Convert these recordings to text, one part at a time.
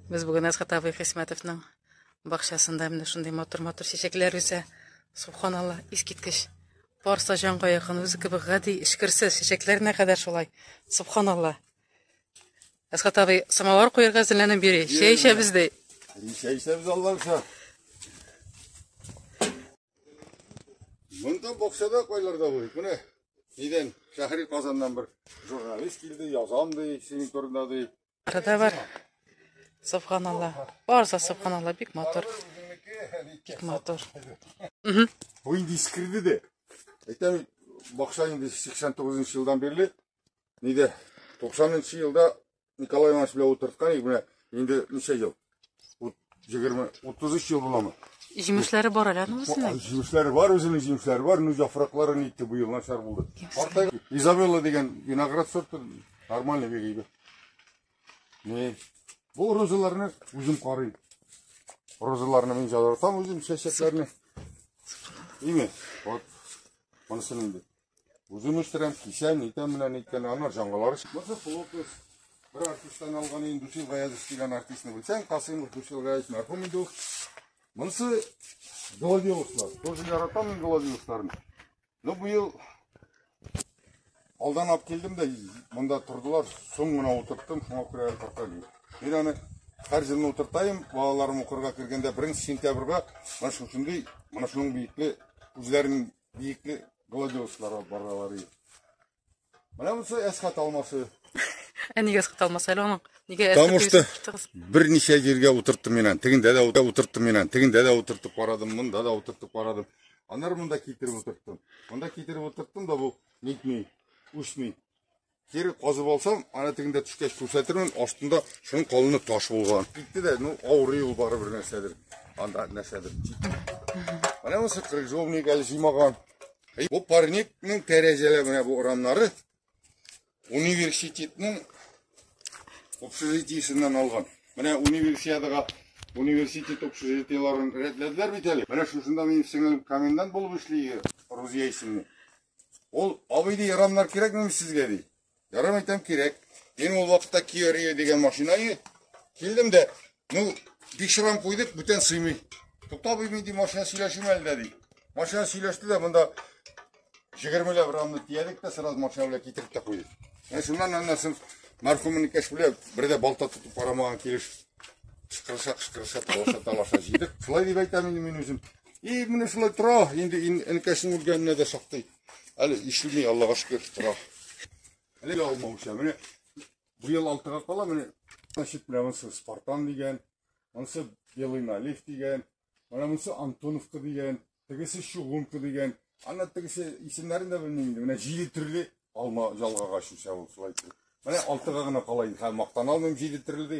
Без бүген Әсхат абый Хисмәтовның бакчасында менә шундый матур-матур чәчәкләр үсә. Субханалла, искиткеч. Барса җанга якын, үзе кебек гади, эчкерсез чәчәкләренә кадәр шулай. Субханалла. Әсхат абый, самовар куярга әзерләнеп йөри. Чәй эчәбез ди. Чәй эчәбез Аллаһша. Монда бакчада кайларда бу. Менә нидән Шәһри Казаннан бер журналист килде, язам ди, синең турында ди. Кыда бар. Субханалла. Барса субханалла бик матур. Бик матур. Бу инде искирде дә. Әйтәм, бакча инде 89 елдан бирле. Нидә? 90 елда Николай Иванович белән утырткан идек, менә инде ничә ел? Ут 20 33 ел буламы? Җимешләре бар әле аның үзенең. Җимешләре бар, үзенең җимешләре бар, ну яфраклары нитте бу ел начар булды. Карта Изабелла дигән виноград сорты нормальный бик әйбәт. Не. Бу розаларны үзем карыйм. Розаларны мин җадыртам үзем чәчәкләрне. Име? Вот. Монысы нинди? Үзем үстерәм, кисәм, итәм менә ниткән, аннар җангалары. Монысы сылу кыз. Бер артисттан алган инде Дусил Гаязов дигән артистны белсәң, Касыймов Дусил Гаязов мәрхүм инде ул. Монысы Голодиловлар. Тоже яратам мин Голодиловларны. Ну быел алдан алып килдем дә монда тордылар, соң гына утырттым, шуңа күрә карталый. Мин аны һәр җылны утыртайым, балаларым укырга кергәндә 1 сентябрьгә менә шушындый, менә шуның биекле үзләрен Биекле гладиолуслар алып баралар. Менә монысы әскат алмасы. Ә нигә әскат алмасы әле аның? Нигә әскат? Потому что берничә җиргә утырттым мин аны. Тегендә дә утырттым мин аны. Тегендә дә утыртып карадым, монда да утыртып карадым. Аннары монда китереп утырттым. Монда китереп утырттым да бу нитми, үсми. Кире казып алсам, ана тегендә төшкәч күрсәтермен, астында шуның калыны таш булган. Китте дә, ну, авырый ул бары бер нәрсәдер. Анда нәрсәдер. Менә монысы крыжовник әле җыймаган. Бу парникның тәрәзәләре менә бу урамнары университетның общежитиесеннән алган. Менә универсиадага университет общежитиеларын рәтләделәр бит әле. Менә шушында минем сеңелем комендант булып эшли, Рузия исемле. Ул абый ди, рамнар кирәкмени сезгә ди. Ярым әйтәм кирәк. Мин ул вакытта Kia Rio дигән машина иде. Килдем дә, ну, бик шырам куйдык, бүтән сыймый. Тукта абый мин ди машина сөйләшим әле дә ди. Машина сөйләште дә монда 20 ләп рамны тиядек тә сразу машина белән китереп тә куйдык. Менә шуннан аннан мархумның кәш белән бер дә балта тотып карамаган килеш кышкырыша кышкырыша талаша талаша җыйдык. Шулай дип әйтәм инде мин үзем. И менә шулай тора, инде энекәсенең үлгәненә дә шактый. Әле ишелми, Аллага шөкер, тора. Әле алмауча, менә бу ел алтыга кала, менә значит, менә монысы Спартан дигән, монысы Белый налив дигән, менә монысы Антоновка дигән, тегесе Чугунка дигән. Ана тегесе исемнәрен дә белмим инде. Менә җиде төрле алма жалгага шуша ул шулай. Менә алтыга гына кала инде. Хәм мактан алмыйм җиде төрле ди.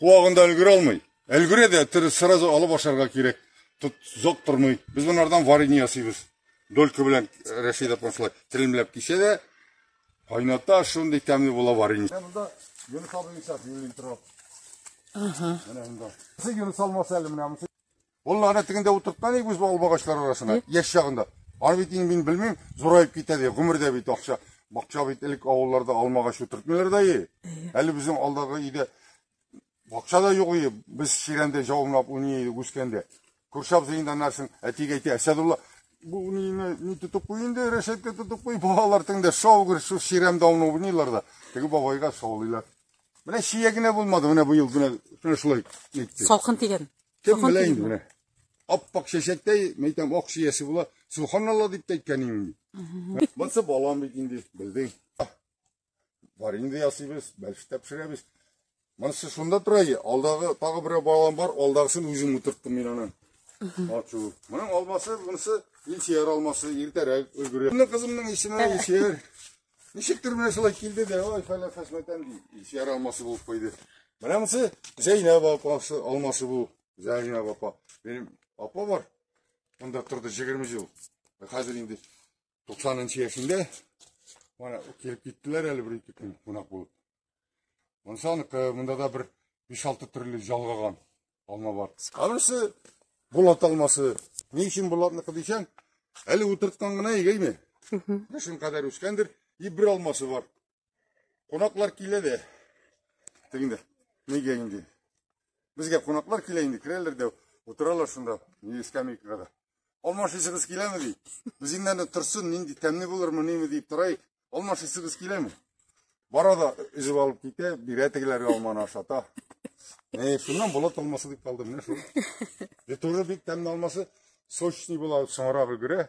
Куагында өлгерә алмый. Өлгерә дә, тер сразу алып ашарга кирәк. Тут зок тормый. Без монардан варенье ясыйбыз. Долька белән э, Рәшид апа шулай телемләп кисә дә, кайната шундый тәмле була варенье. Менә монда Юнус абый исәп юлин торып. Ага. Менә монда. Сез Юнус алмаса әле менә монда. Ул ана тегендә утыртма ник үз албагачлар арасына, яшь чагында. Аны бит инде мин белмим, зураеп китә ди, гомердә бит акча. Бакча бит элек авылларда алмагач утыртмыйлар да и. Әле безнең алдагы өйдә бакча да юк и, без чирәмдә җавымлап уйный идек үскәндә. Күрше абзый инде анарсын, әтиге әйтә, Әсәдулла, бу уйныйны ни тотып куй инде, рәшәткә тотып куй, балалар теңдә шаугыр, шул чирәмдә уйный уйныйлар да, теге бабайга шаулыйлар. Менә чия генә булмады, менә быел генә, менә шулай әйтте. Салкын тигән. Кем Сафан белә инде килдеме? менә. Аппак чәчәктәй, мин әйтәм, ак чиясе була. Субханалла дип тә әйткән инде. Монсы балам бит инде, белдең. Бар инде ясыйбыз, бәлештә пешерәбез. Монысы шунда тора и, алдагы тагы берәү балам бар, алдагысын үзем утырттым мин аны. Ачу. Моның алмасы, монысы Илсияр алмасы, иртәрәк өлгерә. Менә кызымның исеме Илсияр. Ничектер менә шулай килде дә, ой, фәлә фәсмәтән ди. Ишәр алмасы булып куйды. Менә монысы Зәйнәб апасы алмасы бу. Зәйнәб апа. Минем апа бар. Монда торды 20 ел. Хәзер инде 90 нчы яшендә. Менә килеп киттеләр әле бер ике көн кунак булып. Монсанык э, монда да бер 5-6 төрле жалгаган алма бар. Анысы булат алмасы. Ни өчен булатныкы дисәң, әле утырткан гына игейме? Кышын кадәр үскәндер, и бер алмасы бар. Кунаклар килә дә. Тегендә. Нигә инде? Безгә кунаклар килә инде, керәләр дә утыралар шунда, ни скамейкага да. Алмашысыгыз киләме ди? Без инде торсын, нинди тәмле булырмы, ниме дип торайык. Алмашысыгыз киләме? Бара да өзеп алып китә, бирә тегеләргә алманы ашата. Әй, шуннан болот алмасы дип калды менә шул. Бе туры бик тәмле алмасы, сочный була, соңрак өлгерә.